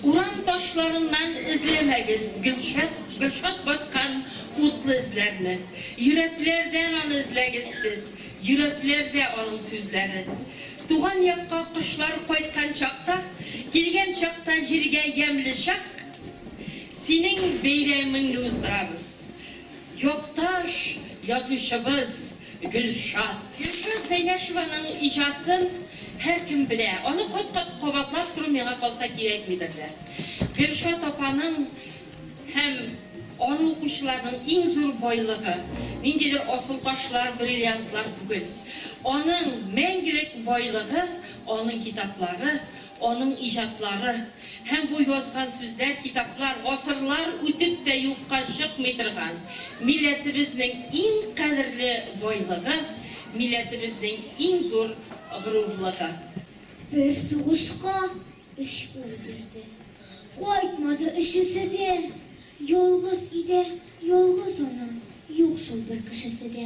Урам ташларыннан эзләмәгез Гөлшат Гөлшат баскан утлы эзләрне. Йөрәкләрдән аны эзләгез сез, Йөрәкләрдә аның сүзләре. Туган якка кошлар кайткан чакта, Килгән чакта җиргә ямьле чак, Синең бәйрәмеңне уздырабыз, Якташ язучыбыз! Гөлшат. Гөлшат Зәйнәшеваның иҗатын һәркем белә. Аны кат-кат кабатлап тору миңа калса кирәкмидер дә. Гөлшат апаның һәм аны укучыларның иң зур байлыгы, ниндидер асылташлар, бриллиантлар түгел. Аның мәңгелек байлыгы, аның китаплары, Аның иҗатлары һәм бу язган сүзләр, китаплар гасырлар үтеп тә юкка чыкмый торган милләтебезнең иң кадерле байлыгы, милләтебезнең иң зур горурлыгы. Бер сугышка өч ул бирде. Кайтмады өчесе дә. Ялгыз өйдә ялгыз ана, юк шул бер кешесе дә.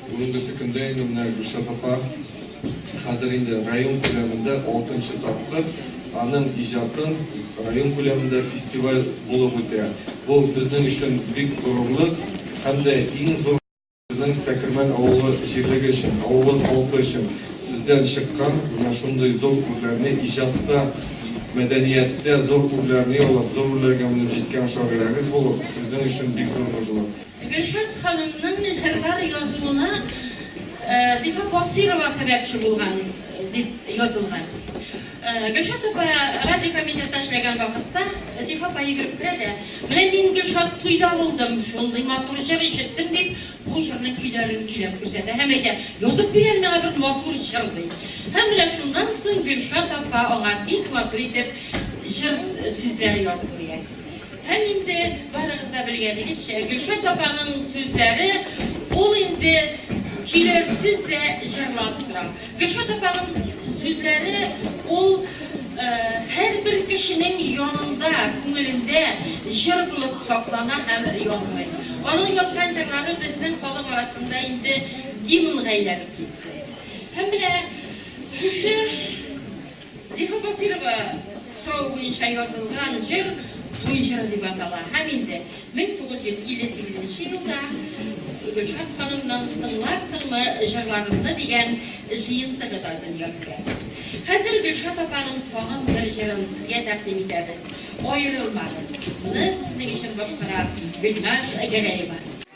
Бүгенге көндә инде менә Гөлшат апа хәзер инде район күләмендә алтынчы тапкыр аның иҗатын район күләмендә фестиваль булып үтә. Бу безнең өчен бик горурлык һәм дә иң зур безнең Тәкермән авылы җирлеге өчен, авылы халкы өчен сездән чыккан менә шундый зур үрләрне, иҗатта, мәдәнияттә зур үрләрне яулап, зур үрләргә менеп җиткән шагыйрәгез булу сезнең өчен бик зур горурлык. Гөлшат ханымның җырлар язуына Зифа Басыйрова сәбәпче булган, дип язылган. Гөлшат апа радио комитетта эшләгән вакытта Зифа апа йөгереп керә дә, Менә мин Гөлшат туйда булдым, шундый матур җыр ишеттем, дип, бу җырның көйләрен көйләп күрсәтә һәм әйтә, Язып бир әле миңа бер матур җыр, ди. Һәм менә шуннан соң Гөлшат апа аңа бик матур итеп җыр сүзләре язып бирә. Һәм инде, барыгыз да белгәнегезчә, Гөлшат апаның сүзләре, ул инде көйләрсез дә җырлап тора. Гөлшат апаның сүзләре, ул һәрбер кешенең янында, күңелендә җыр булып саклана һәм янмый. Аның язган җырлары безнең халык арасында инде гимнга әйләнеп китте. Һәм менә шушы Зифа Басыйрова соравы буенча язылган җыр Туй җыры дип атала һәм инде 1958 елда Гөлшат ханымның Тыңларсыңмы җырларымны дигән җыентыгы да дөнья күрә. Хәзер Гөлшат апаның тагын бер җырын сезгә тәкъдим итәбез, Аерылмагыз. Моны сезнең өчен башкара Гөлназ Гәрәева.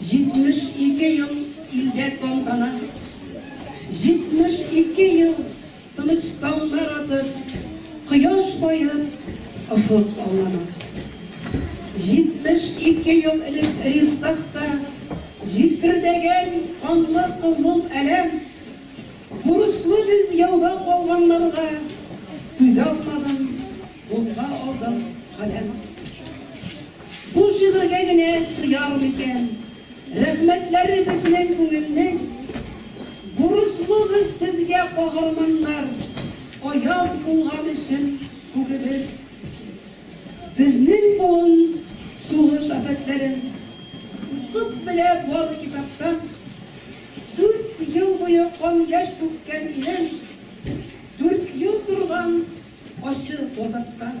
72 ел илдә тантана, 72 ел тыныч таңнар атып, кояш баеп, офык аллана. 72 ел элек Рестахта җилпердәгән канлы кызыл әләм, бурычлы без яуда калганнарга түзә алмадым. Кулга алдым каләм. Бу шигырьгә генә сыяр микән? Рәхмәтләре безнең күңелнең. Бурычлыбыз сезгә, каһарманнар, аяз булган өчен күгебез. Безнең буын сугыш афәтләрен укып белә бары китаптан. Дүрт ел буе кан яшь түккән илем, дүрт ел торган Ачык, азакта.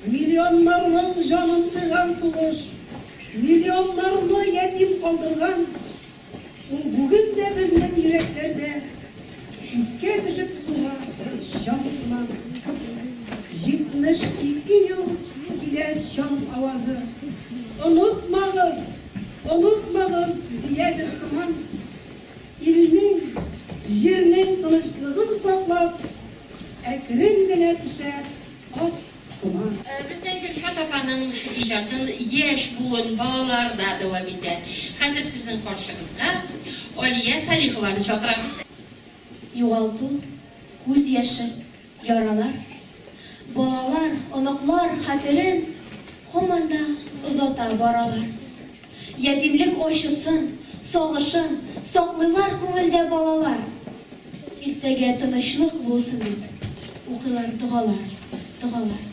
Миллионнарның җанын кыйган сугыш, миллионнарны ятим калдырган, ул бүген дә безнең йөрәкләрдә искә төшеп суга чаң сыман. 72 ел килә чаң авазы, онытмагыз, онытмагыз, диядер сыман. илнең, җирнең тынычлыгын саклап, әкрен генә төшә ак томан. Бездә Гөлшат апаның иҗатын яшь буын, балалар да дәвам итә. Хәзер сезнең каршыгызга Алия Салихованы чакырабыз. Югалту, күз яше. Яралар, балалар, оныклар хәтерен һаман да озата баралар. Ятимлек ачысын, сагышын саклыйлар күңелдә балалар. Иртәгә тынычлык булсын дип, укыйлар догалар, догалар.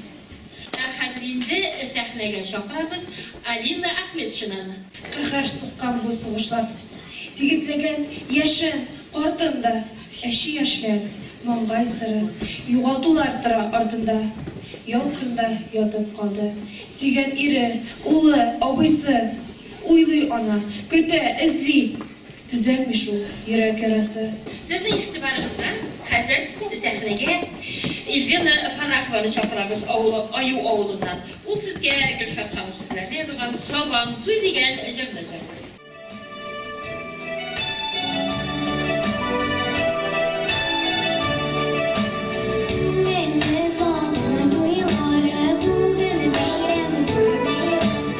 Ә хәзер инде сәхнәгә чакырабыз Алина Әхмәтшинаны. Каһәр суккан бу сугышлар. Тигезләгән яшен, картын да. Әче яшьләр, маңгай сыры. Югалтулар тора артында. Ял кырында ятып калды. Сөйгән ире, улы, абыйсы. Уйлый ана, көтә, эзли. Төзәлми шул йөрәк ярасы. Сезнең игътибарыгызга хәзер сәхнәгә Ильвина Фаррахованы чакырабыз, авылы Аю авылыннан. Ул сезгә Гөлшат ханым сүзләренә язылган Сабан туй дигән җырны җырлый. Милли Сабан туйлары бу бер бәйрәм, зур бәйрәм.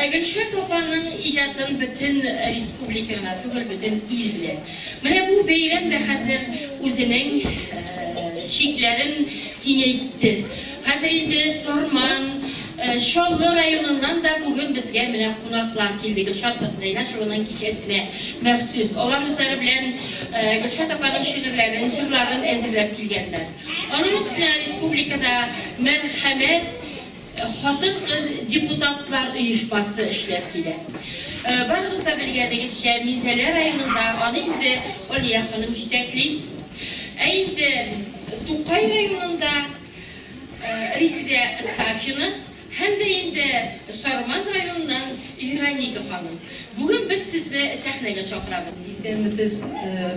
Ә Гөлшат апаның иҗатын бөтен республика гына түгел, бөтен ил белә. Менә бу бәйрәм дә хәзер үзенең чикләрен киңәйтте. Хәзер инде Сарман, Чаллы районыннан да бүген безгә менә кунаклар килде, Гөлшат Зәйнәшеваның кичәсенә махсус. Алар үзләре белән Гөлшат апаның шигырьләрен, җырларын әзерләп килгәннәр. Аның өстенә республикада мәрхәмәт Хатын-кыз депутатлар оешмасы эшләп килә. Барыгыз да белгәнегезчә, Минзәлә районында аны инде Алия ханым җитәкли. Ә инде Тукай районында Резидә Сафина һәм дә инде Сарман районыннан Вероника ханым. Бүген без сезне сәхнәгә чакырабыз. Исәнмесез,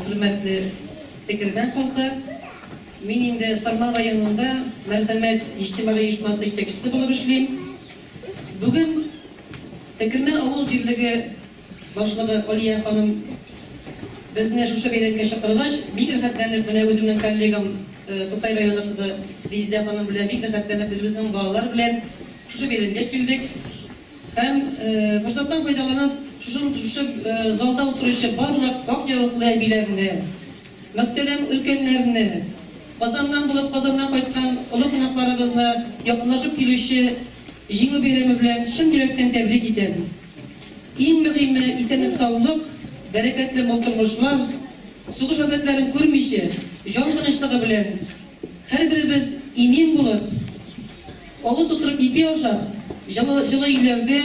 хөрмәтле Тегермән халкы! Мин инде Сарман районында Мәрхәмәт иҗтимагый оешмасы җитәкчесе булып эшлим. Бүген Текрмә авыл җирлеге башлыгы Алия ханым безне шушы бәйрәмгә чакыргач, бик рәхәтләнеп, менә үземнең коллегам, Тукай районы кызы Резидә ханым белән бик рәхәтләнеп үзебезнең балалар белән шушы бәйрәмгә килдек. Һәм форсаттан файдаланып, шушы залда утыручы барлык ак яулыклы әбиләрне, Мөхтәрәм өлкәннәрне, Казаннан булып Казаннан кайткан олы кунакларыбызны якынлашып килүче Җиңү бәйрәме белән чын йөрәктән тәбрик итәм. Иң мөһиме, исәнлек-саулык, бәрәкәтле мул тормышлар, сугыш афәтләрен күрмичә, җан тынычлыгы белән һәрберебез имин булып, Авыз тутырып ипи ашап, җылы җылы өйләрдә,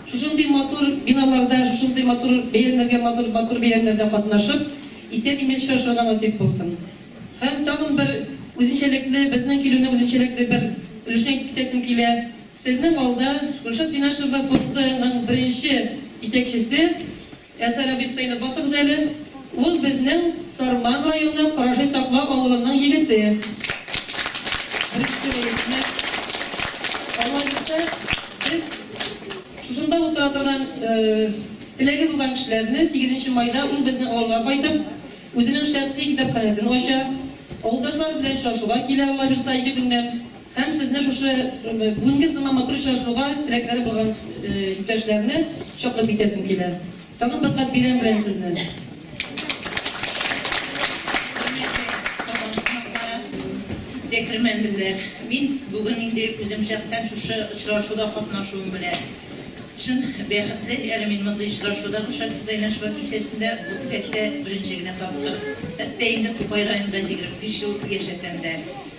шушындый матур биналарда, шушындый матур бәйрәмнәргә матур матур бәйрәмнәрдә катнашып, исән-имин очрашырга насыйп булсын. Һәм тагын бер үзенчәлекле, безнең килүне үзенчәлекле бер өлешен әйтеп китәсем килә. Сезнең алда Гөлшат Синашева фонды ның беренче җитәкчесе Ә Сәләбил сыйны басыгыз әле. Ул безнең Сарман районы Караши Сакла авылының егете. Беренче рәисне Алла бирсә, без шушында утыра торган теләге булган кешеләрне сигезенче майда ул безнең авылга кайтып, үзенең шәхси китапханәсен ача. Авылдашлар белән очрашуга килә, Алла бирса, ике көннән. Һәм сезне шушы бүгенге сыман матур очрашуга теләкләре булган иптәшләрне чаклып китәсем килә. Тагын бер кат бәйрәм белән сезне! Декрмәнлеләр, мин бүген инде үзем шәхсән шушы очрашуда катнашуым белән чын бәхетле, әле мин мондый очрашуда Гөлшат Хөсәйнәшева кичәсендә бу төбәктә беренче генә тапкыр, хәтта инде Тукай районында җигерме биш ел яшәсәм дә.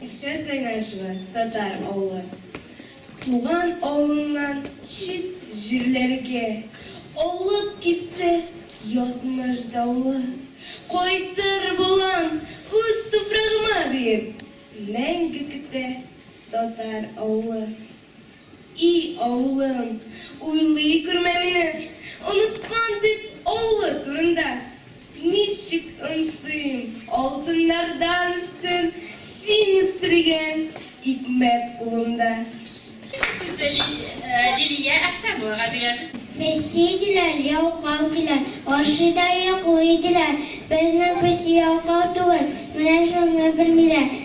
Илшат Гайнашева татар авылы. Туган авылыннан чит җирләргә алып китсә, язмыш давылы, кайтыр булам үз туфрагыма диеп, мәңге көтә татар авылы. И авылым, уйлый күрмә мине, Оныткан дип авылы турында. Ничек онытыйм, алтыннардан өстен Син үстергән икмәк кулымда. Икенче сүзне Лилия Әхтәмовага бирәбез. Песи диләр, ялкау диләр, ашый да йоклый диләр. Безнең песи ялкау түгел, менә шуны белмиләр.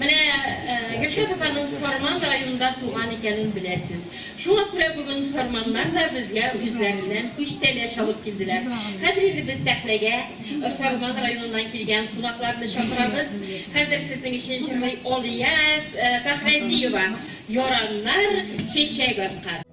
Менә Гөлшат апаның Сарман районында туган икәнен беләсез. Шуңа күрә бүген сарманнар да безгә үзләреннән күчтәнә чабып килделәр. Хәзер инде без сәхнәгә Сарман районыннан килгән кунакларны чакырабыз. Хәзер сезнең өчен җырлый Алия Фәхразиева Яраннар чәчәк аткан.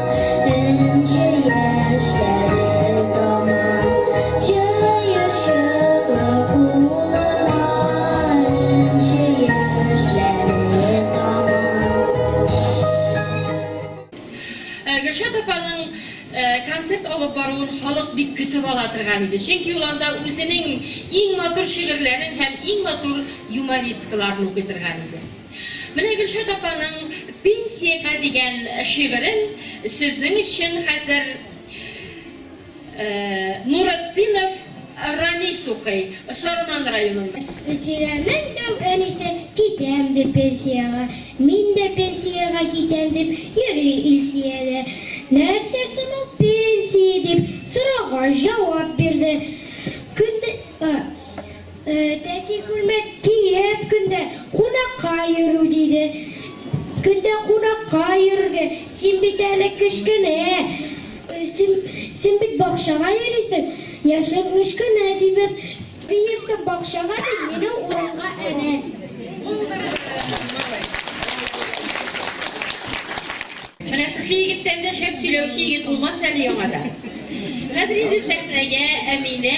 Гөлшат апаның концерт алып баруын халык бик көтеп ала торган иде. Чөнки ул анда үзенең иң матур шигырьләрен һәм иң матур юмористкаларын укый торган иде. Менә Гөлшат апаның Пенсиягә дигән шигырен сезнең өчен хәзер Нуретдинов Ранис укый, Сарман районыннан. Зөфирәнең тәү әнисе Китәм дип пенсиягә, мин дә пенсиягә китәм дип йөри Илсия дә, Нәрсә соң ул пенсия? дип сорагач, җавап бирде, Көндез, Тәти күлмәк киеп көндә кунакка йөрү диде. Көндә кунакка йөрергә, син бит әле кечкенә. Син, син бит бакчага йөрисең, яшең кечкенә, ди без. Биерсең бакчага, ди, мине урамга әнә. Менә шушы егеттән дә шәп сөйләүче егет булмас әле яңадан. Хәзер инде сәхнәгә Әминә.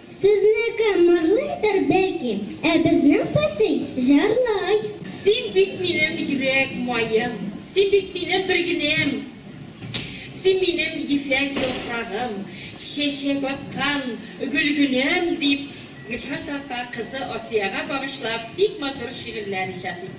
Сезнеке мырлыйдыр бәлки, ә безнең песый җырлый. Син бит минем йөрәк маем. Син бит минем бергенем. Син минем ефәк яфрагым. Чәчәк аткан гөлгенәм, дип Гөлфәт апа кызы Асияга багышлап бик матур шигырьләр иҗат итте.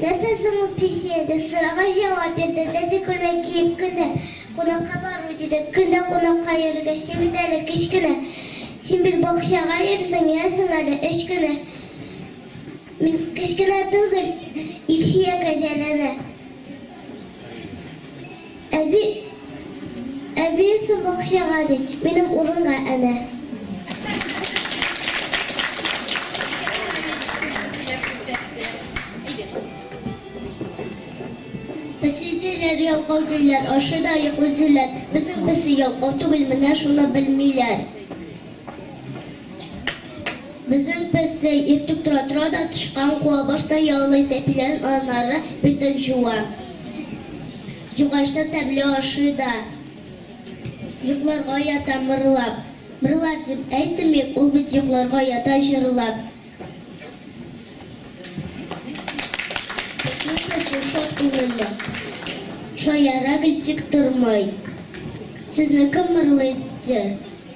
Нәрсә соң ул песня? дип сорауга җавап бирде, Тәти күлмәк киеп көн дә кунакка бармый, диде. Көн дә кунакка йөрергә чи бит әле, кечкенә. Син бит бакчага йөрисең, менәсең әле, өч кенә. Мин кечкенә түгел, Илсөя кәҗәләнә. Әби, әбиесе бакчага, ди, минем урынга әнә. Песисе ләр ялкау диләр, ашый да йоклый диләр, безнең песи ялкау түгел, менә шуны белмиләр. Безнең песи иртүк тора-тора да тычкан куа башта яллый, тәпиләрен аннары битен җуа. Җугач та тәмле ашый да йокларга ята мырлап. Мырлар дип әйтмик, ул бит йокларга ята җырлап. Безнең песи шат күңелле, шаяра гел тик тормый. Сезнең кем мырлыйдыр?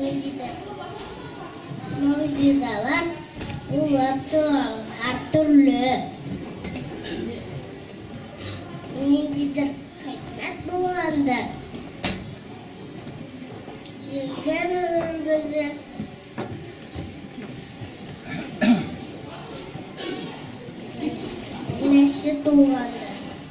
Ниндидер могҗизалар булып торалар, һәртөрле. Ниндидер хикмәт булгандыр. Җирдә гомеребезне Нәрсе туганы?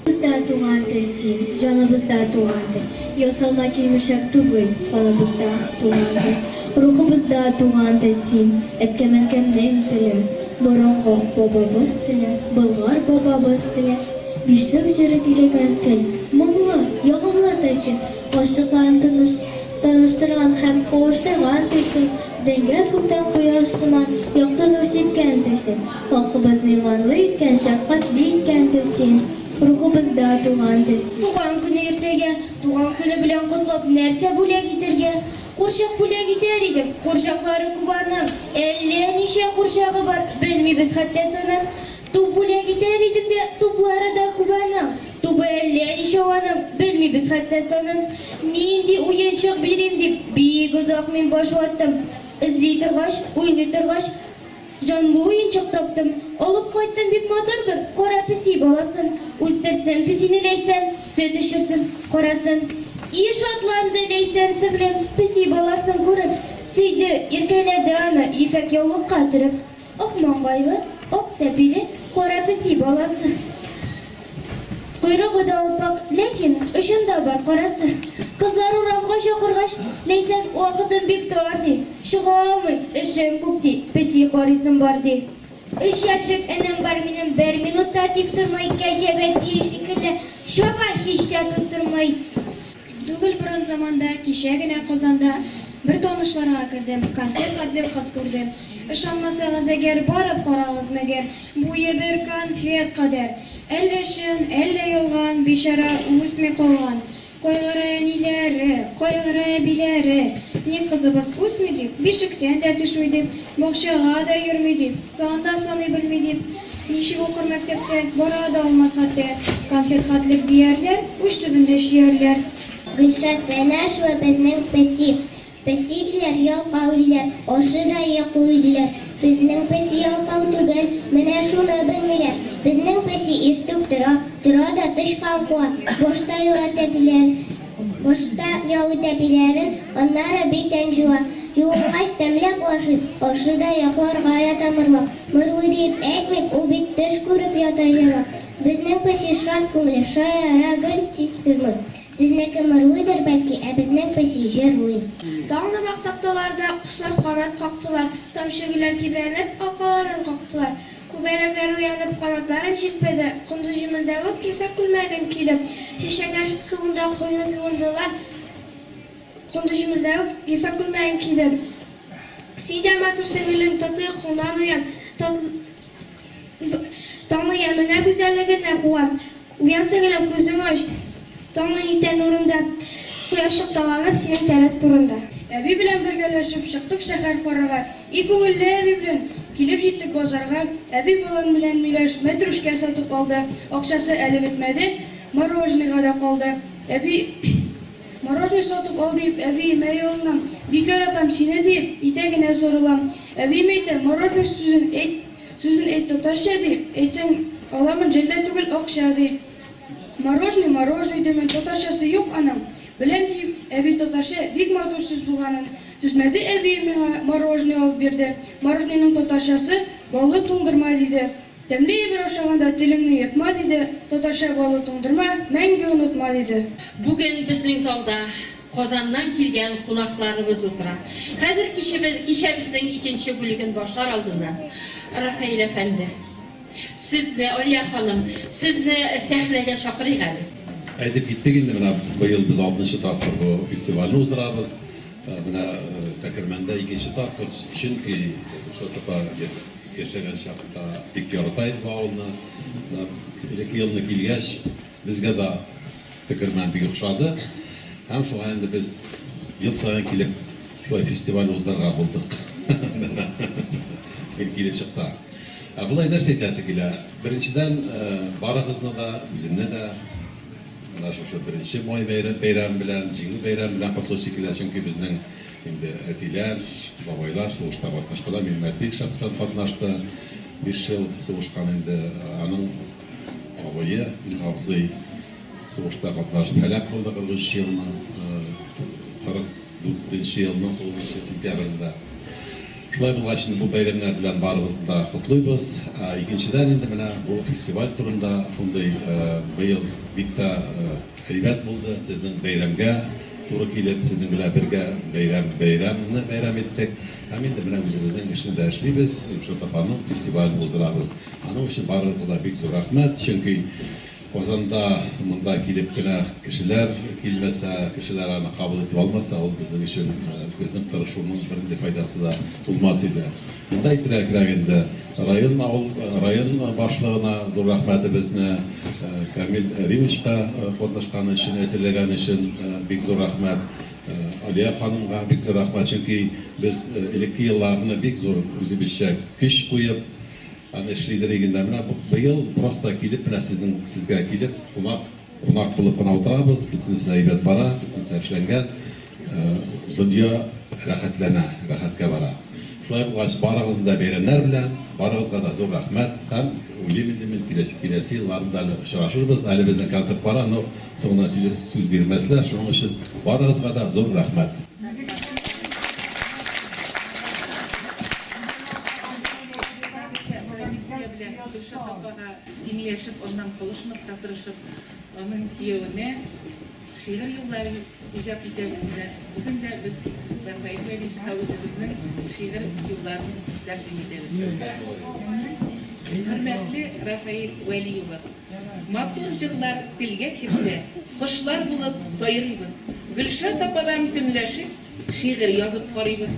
Бездә тугандыр син, җаныбызда тугандыр. Ясалма килмешәк түгел, каныбызда тугандыр. Рухыбызда тугандыр син, әткәмәкәмнең теле, борынгы бабабыз теле, Болгар бабабыз теле. Бишлек җыры көйләгән тел, моңлы, ягымлы тел син. Карчыкларын тыныч, таныштырган һәм кавыштырган төйсен, зәңгәр күктән кояш сыман якты нур сипкән төйсен, халкыбызны иманлы иткән, шәфкатьле иткән төйсен, рухыбызда туган төйсен. Туган көне иртәгә, туган көне белән котлап, нәрсә бүләк итәргә? Курчак бүләк итәр идем, курчаклары күп аның, әллә ничә курчагы бар, белмибез хәтта санап. Туп бүләк итәр идем дә, туплары да күп аның. Тубы әллә ничәү аның, белмибез хәтта санын. Нинди уенчык бирим дип, бик озак мин баш ваттым. Эзли торгач, уйлый торгач, җанлы уенчык таптым. Алып кайттым бик матур бер кара песи баласын. Үстерсен песине Ләйсән, сөт эчерсен, карасын. И шатланды Ләйсән сеңлем, песи баласын күреп. Сөйде, иркәләде аны ефәк яулыкка төреп. Ак маңгайлы, ак тәпиле кара песи баласы. Койрыгы да аппак, ләкин очында бар карасы. Кызлар урамга чакыргач, Ләйсән вакытым бик тар, ди. Чыга алмыйм, эшем күп, ди, песи карыйсым бар, ди. Өч яшьлек энем бар минем, бер минут та тик тормый, кәҗә бәтие шикелле чаба, һич тә тоттырмый. Түгел борын заманда, кичә генә Казанда Бер танышларга кердем, конфет хәтле кыз күрдем. Ышанмасагыз әгәр, барып карагыз мәгәр, Буе бер конфет кадәр. Әллә чын, әллә ялган, бичара үсми калган. Кайгыра әниләре, кайгыра әбиләре, Ник кызыбыз үсми дип, бишектән дә төшми дип, Бакчага да йөрми дип, сан да саный белми дип. Ничек укыр мәктәпкә, бара да алмас ате. Конфет-хатлек диярләр, уч төбендә чөярләр. Гөлшат Зәйнәшева безнең песи. Песи диләр, ялкау диләр, ашы да йоклый диләр. Безнең песи ялкау түгел, менә шуны белмиләр. Безнең песи иртүк тора, тора да тычкан куа, башта юләтә диләр. Башта ял итә биләрен, аннары бит ен җуа. Җуынгач, тәмләп ашый, ашы да яклар гая тамырлап. Мырлый диеп әйтмик, ул бит төш күреп ята җырлап. Безнең песи шат күңле, шая ра гел тик тормый. Сезнеке мырлыйдыр, бәлки, ә безнең песи җырлый. Таңны мактап таларда, кошлар канат кактылар, тамчы гөлләр тибрәнеп, алкаларын кактылар. Күбәләкләр уянып, канатларын җилпеде, кондыз җемелдәвек кефәк күлмәген киеп, чәчәкләр суында коенып юындылар, кондыз җемелдәвек кефәк күлмәген киеп. Син дә матур, сеңелем, татлы йокыңнан уян, татлы таңны яменә гүзәллегенә куан. Уянсын гына күзең ач, Таңның иртә нурында, Кояш шыкталанып синең тәрәз турында. Әби белән бергәләшеп чыктык шәһәр карарга, И күңелле әби белән килеп җиттек базарга. Әби балан белән миләш, мәтрүшкә сатып алды, Акчасы әле бетмәде, мороженыйга да калды. Әби мороженый сатып ал диеп, Әбием, әй улнам, бик яратам сине диеп, Итәгенә сарылам. Әбием әйтә, мороженый сүзен әйт. Сүзен әйт татарча ди, әйтсәң, аламын, җәллә түгел, акча, ди. Морожный, морожный димен, татарчасы юк аның. Беләм, ди, әби татарча бик матур сүз булганын. Түзмәде әбием миңа, морожный алып бирде. Морожнойның татарчасы, баллы туңдырма, диде. Тәмле әйбер ашаганда телеңне ертма, диде. Татарча баллы туңдырма, мәңге онытма, диде. Бүген безнең залда Казаннан килгән кунакларыбыз утыра. Хәзер кичебез, кичәбезнең икенче бүлеген башлар алдыннан, Рафаэль әфәнде, сезне, Алия ханым, сезне сәхнәгә чакырыйк әле. Әйтеп киттек инде, менә быел без алтынчы тапкыр бу фестивальне уздырабыз. Менә Тәкермәндә икенче тапкыр, чөнки Шотыпа яшәгән чакта бик ярата иде бу авылны. Менә элекке елны килгәч, Безгә дә тегермән бик охшады һәм шуңа инде без ел саен килеп шулай фестиваль уздырырга булдык. Гел килеп чыкса. Ә болай нәрсә әйтәсе килә, беренчедән, барыгызны да, үземне дә менә шушы беренче май бәйрәме белән, Җиңү бәйрәме белән котлыйсы килә, чөнки безнең инде әтиләр, бабайлар сугышта катнашкалар, Минмәт бик шәхсән катнашты, биш ел сугышкан инде, аның. Абые, абзый сугышта катнашып һәлак булды, 43 елның, 44 нче елның 9 нчы сентябрендә. Шулай булгач, инде бу бәйрәмнәр белән барыбызны да котлыйбыз. Икенчедән, инде менә бу фестиваль турында шундый, быел бик тә әйбәт булды. Сезнең бәйрәмгә туры килеп, сезнең белән бергә бәйрәм, бәйрәмне бәйрәм иттек. Һәм инде менә үзебезнең эшне дә эшлибез, Илшат апаның фестивален уздырабыз. Аның өчен барыгызга да бик зур рәхмәт, чөнки Казанда монда килеп кенә кешеләр килмәсә, кешеләр аны кабул итеп алмаса, ул безнең өчен, безнең тырышуның бернинди файдасы да булмас иде. Монда итегрәгрәк инде район, авыл, район башлыгына зур рәхмәтебезне, Камил Римычка катнашканы өчен, әзерләгәне өчен бик зур рәхмәт, Алия ханымга бик зур рәхмәт, чөнки без элекке елларны бик зур үзебезчә көч куеп, Аны эшлидер иген дә. Менә быел просто килеп, менә сезнең сезгә килеп, кунак, кунак булып кына утырабыз, бөтенесе дә әйбәт бара, бөтенесе эшләнгән. Дөнья рәхәтләнә, рәхәткә бара. Шулай булгач, барыгызны да бәйрәмнәр белән, барыгызга да зур рәхмәт һәм уйлыйм инде мин, киләсе, киләсе елларны да әле очрашырбыз. Әле безнең концерт бара, но соңыннан сүз, сүз бирмәсләр, шуның өчен барыгызга да зур рәхмәт. Традиция белән Гөлшат апага иңләшеп, аннан калышмаска тырышып, аның кияүенә шигырь юллары иҗат итәбез диләр. Бүген дә без Рафаэль Левичка үзебезнең шигырь юлларын тәкъдим итәбез. Хөрмәтле Рафаэль Вәли улы, матур җырлар телгә керсә, кошлар булып сайрыйбыз. Гөлшат ападан көнләшеп, Шигырь язып карыйбыз.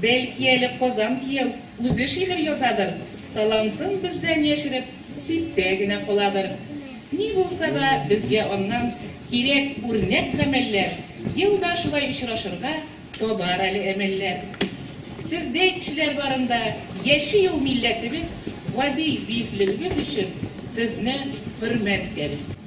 Бәлки әле Казан кияү үзе шигырь язадыр, талантын бездән яшереп, читтә генә каладыр. Ни булса да, безгә аннан кирәк үрнәк гамәлләр, елда шулай очрашырга табар әле әмәлләр. Сездәй кешеләр барында яши ул милләтебез, гади биеклегегез өчен сезне хөрмәт итәбез.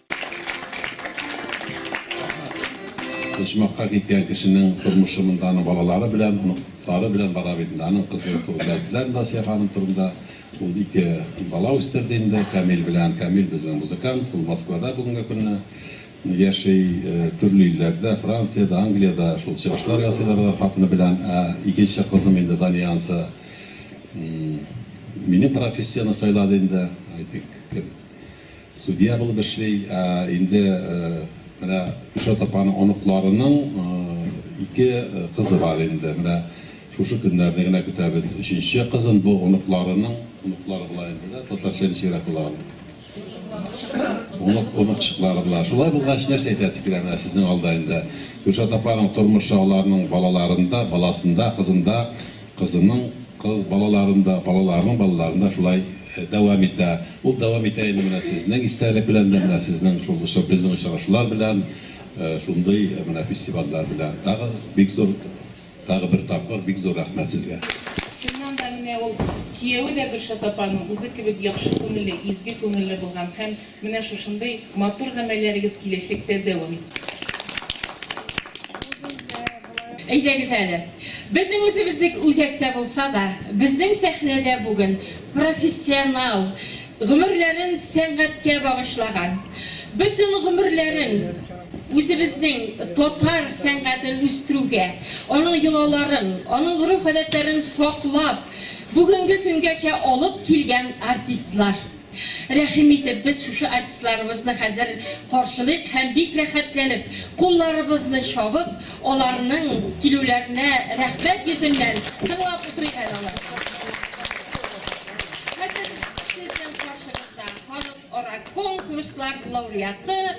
Почмакка киткән кешенең тормышы монда аның балалары белән, оныклары белән бара бит инде. Аның кызы турында әйттеләр инде Асия ханым турында. Ул ике бала үстерде инде Камил белән. Камил безнең музыкант, ул Москвада бүгенге көнне яши, төрле илләрдә, Франциядә, Англиядә шул чыгышлар ясыйлар алар хатыны белән. Ә икенче кызым инде Дания анысы минем профессияне сайлады инде, әйтик, кем. Судья булып эшли. Ә инде менә Гөлшат апаның оныкларының ике кызы бар инде. Менә шушы көннәрне генә көтәбез өченче кызын. Бу оныкларының оныклары була инде дә, татарча ничегрәк була ул? Оныкчыклары. Оныкчыклары була. Шулай булгач, нәрсә әйтәсе килә менә сезнең алда инде? Гөлшат апаның тормышы аларның балаларында, баласында, кызында Кызының кыз балаларын да, балаларының балаларын да шулай дәвам итә. Ул дәвам итә инде менә сезнең истәлек белән дә, менә сезнең шул очра, безнең очрашулар белән, шундый менә фестивальләр белән. Тагы бик зур, тагы бер тапкыр бик зур рәхмәт сезгә. Чыннан да, менә ул кияве дә Гөлшат апаның үзе кебек яхшы күңелле, изге күңелле булган һәм менә шушындый матур гамәлләрегез киләчәктә дәвам итсен. Бу бездә. Әйдәгез әле, безнең үзебезнең үзәктә булса да, безнең сәхнәдә бүген профессионал, гомерләрен сәнгатькә багышлаган, бөтен гомерләрен үзебезнең татар сәнгатен үстерүгә, аның йолаларын, аның гореф-гадәтләрен саклап, бүгенге көнгәчә алып килгән артистлар. Рәхим итеп, без шушы артистларыбызны хәзер каршылыйк һәм бик рәхәтләнеп, кулларыбызны чабып, аларның килүләренә рәхмәт йөзеннән тыңлап утырыйк әле аларны. Хәзер сезнең каршыгызда халыкара конкурслар лауреаты,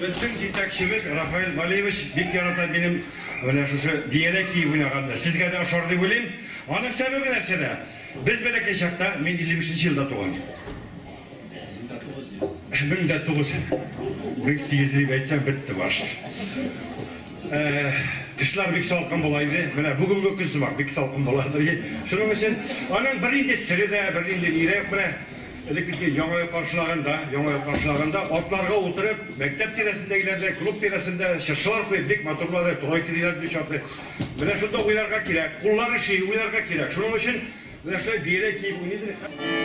Безнең җитәкчебез Рафаэль Валиевич бик ярата минем менә шушы бияләй киеп уйнаганны. Сезгә дә ошар дип уйлыйм. Аның сәбәбе нәрсәдә? Без бәләкәй чакта, мин 55 елда туган. Мең дә тугыз йөз. Мең дә тугыз йөз. Мең сигез йөз дип әйтсәң, бетте баш. Кышлар бик салкын була иде. Менә бүгенге көн сымак, бик салкын була. Шуның өчен аның бернинди сере дә, бернинди ни дә юк. Менә Элеккечә Яңа ел каршылаганда, Яңа ел каршылаганда атларга утырып, мәктәп тирәсендәгеләрдә, клуб тирәсендә чыршылар куеп, бик матурлады, турай килделәр бит чаты. Менә шунда уйларга кирәк, куллар эшли, уйларга кирәк. Шуның өчен менә шулай бияләй киеп уйныйдыр.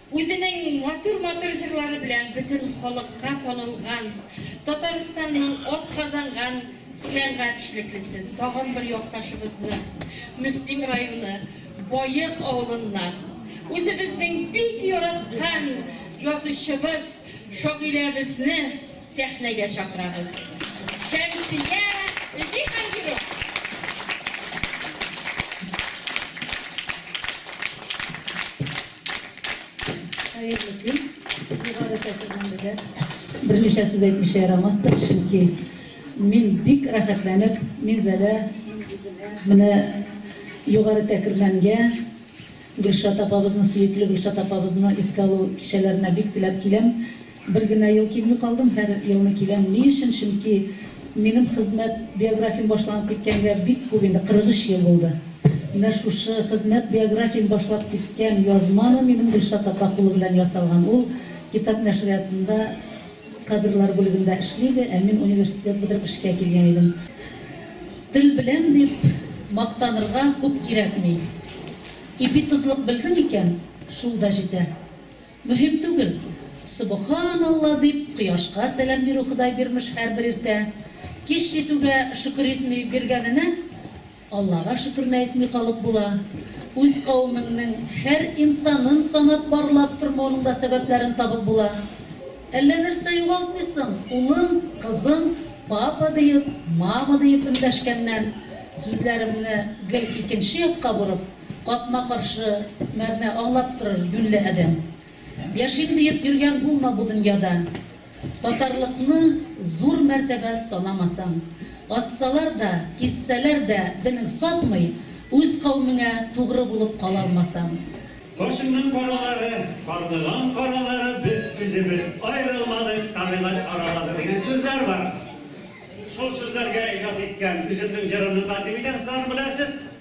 Үзенең матур-матур җырлары белән бөтен халыкка танылган Татарстанның атказанган сәнгать эшлеклесен, тагын бер якташыбызны, Мөслим районы Боек авылыннан үзебезнең бик яраткан язучыбыз, шагыйрәбезне сәхнәгә чакырабыз. Шәмсия Җиһангирова! Хәерле көн. Югары чакырган безгә. Берничә сүз әйтмичә ярамастыр, чөнки мин бик рәхәтләнеп, мин зәлә менә югары тәкергәнгә Гөлшат апабызны, сөекле Гөлшат апабызны искә алу кичәләренә бик теләп киләм. Бер генә ел килми калдым, һәр елны киләм. Ни өчен? Чөнки минем хезмәт биографиям башланып киткәнгә бик күп инде, 43 ел булды. Менә шушы хезмәт биографиям башлап киткән язманы минем Гөлшат апа кулы белән ясалган. Ул китап нәшриятында кадрлар бүлегендә эшли иде, ә мин университет бетереп эшкә килгән идем. Тел беләм дип мактанырга күп кирәкми. Ипи тозлык белдең икән, шул да җитә. Мөһим түгел. Собаханалла дип, кояшка сәлам бирү Ходай бирмеш һәрбер иртә. Кич җитүгә шөкер итми, биргәненә Аллага шөкерне әйтми калып була. Үз кавемеңнең һәр инсанын санап барлап тормауның да сәбәпләрен табып була. Әллә нәрсә югалтмыйсың, улың, кызың папа диеп, мама диеп эндәшкәннән, сүзләремне гел икенче якка борып, Капма-каршы мәгънә аңлап торыр юньле адәм. Яшим диеп йөргән булма бу дөньяда. Татарлыкны зур мәртәбә санамасаң. Ассалар да, киссәләр дә денең сатмый, үз каумеңә тугры булып кала алмасаң. Кашыңның каралары, карлыган каралары без үзебез аерылмадык, табигать аралады дигән сүзләр бар. Шул сүзләргә иҗат иткән үземнең җырымны тәкъдим итәм сызларны беләсез.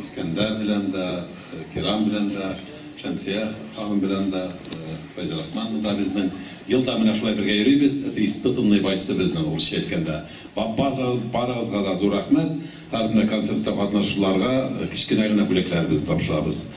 Искәндәр белән дә, Кирам белән дә, Шәмсия ханым белән дә, Фәйзә Рахманова да безнең. Ел да менә шулай бергә йөрибез. Это испытанные бойцы безнең, урысча әйткәндә. Барыгызга да зур рәхмәт. Һәрбер концертта катнашучыларга кечкенә генә бүләкләребезне тапшырабыз.